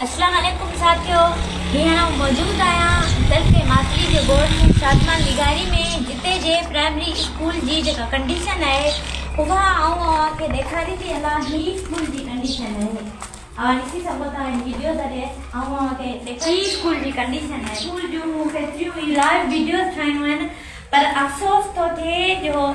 اسلام عليڪم ساٿيو هينئر آئون موجود آهيان ترڪي ماتلي جي ڳوٺ شادمان لغاري ۾ جتي جي پرائمري اسڪول جي جيڪا ڪنڊيشن آهي اها آئون اوهان کي ڏيکاري ٿي هلان هي اسڪول جي ڪنڊيشن آهي اوهان ڏسي سگهو ٿا هن ويڊيو ذريعي آئون اوهان کي ڏيکاري هي اسڪول جي ڪنڊيشن آهي اسڪول جون فيسليون هي لائيو ويڊيوز ٺاهيون آهن پر افسوس ٿو ٿئي جو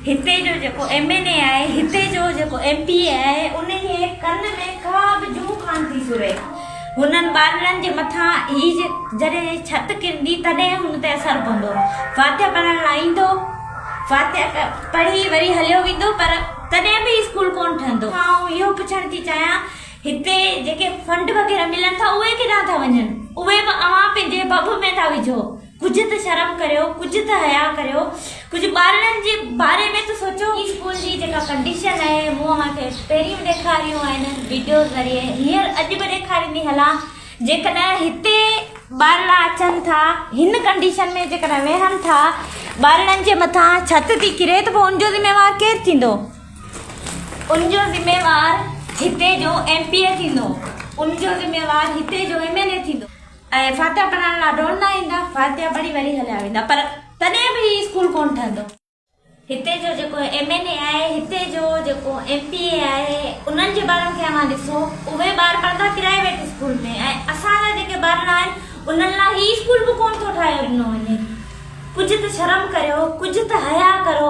هتي جو جيڪو ايم اين اي آهي هتي جو جيڪو ايم پي اي آهي انهيء ڪن ۾ ڪا به جوء ڪانه ٿي سري. هنن ٻارڙن جي مٿان هي جڏهن هي ڇت ڪرندي تڏهن هن تي اثر پوندو. فاتحه پڙهڻ لاء ايندو، فاتحه پڙهي وري هليو ويندو پر تڏهن به هي اسڪول ڪونه ٺهندو. آئون اهو پڇڻ ٿي چاهيان هتي جيڪي فنڊ وغيره ملن ٿا اهي ڪيڏانهن ٿا وڃن؟ اهي به اوهان پنهنجي ڀڀ ۾ ٿا وجهو. ڪجهه ته شرم ڪريو، ڪجهه ته حياء ڪريو، ڪجهه ٻارڙن جي باري ۾ ته سوچو. هي اسڪول جي جيڪا ڪنڊيشن آهي مون اوهان کي پهرين به ڏيکاريون آهن ويڊيو ذريعي هينئر اڄ به ڏيکاريندي هلان جيڪڏهن هتي ٻارڙا اچن ٿا هن ڪنڊيشن ۾ جيڪڏهن ويهن ٿا ٻارڙن جي مٿان ڇت ٿي ڪري ته پوء ان جو ذميوار ڪير ٿيندو ان جو ذميوار هتي جو ايم پي اي ٿيندو ان جو ذميوار هتي جو ايم ايل اي ٿيندو. ۽ فاتحه پڙهائڻ لا ڊون نه ايندا فاتحه پڙهي وري هليا ويندا پر تڏهن به هي اسڪول ڪون ٺهندو. هتي جو جيڪو ايم اين اي آهي هتي جو جيڪو ايم پي اي آهي انهن جي ٻارن کي اوهان ڏسو اهي ٻار پڙهندا پرائيويٽ اسڪول ۾ ۽ اسان جا جيڪي ٻارڙا آهن انهن لا هي اسڪول به ڪون ٿو ٺاهيو ڏنو وڃي ڪجهه ته شرم ڪريو ڪجهه ته حيا ڪرو.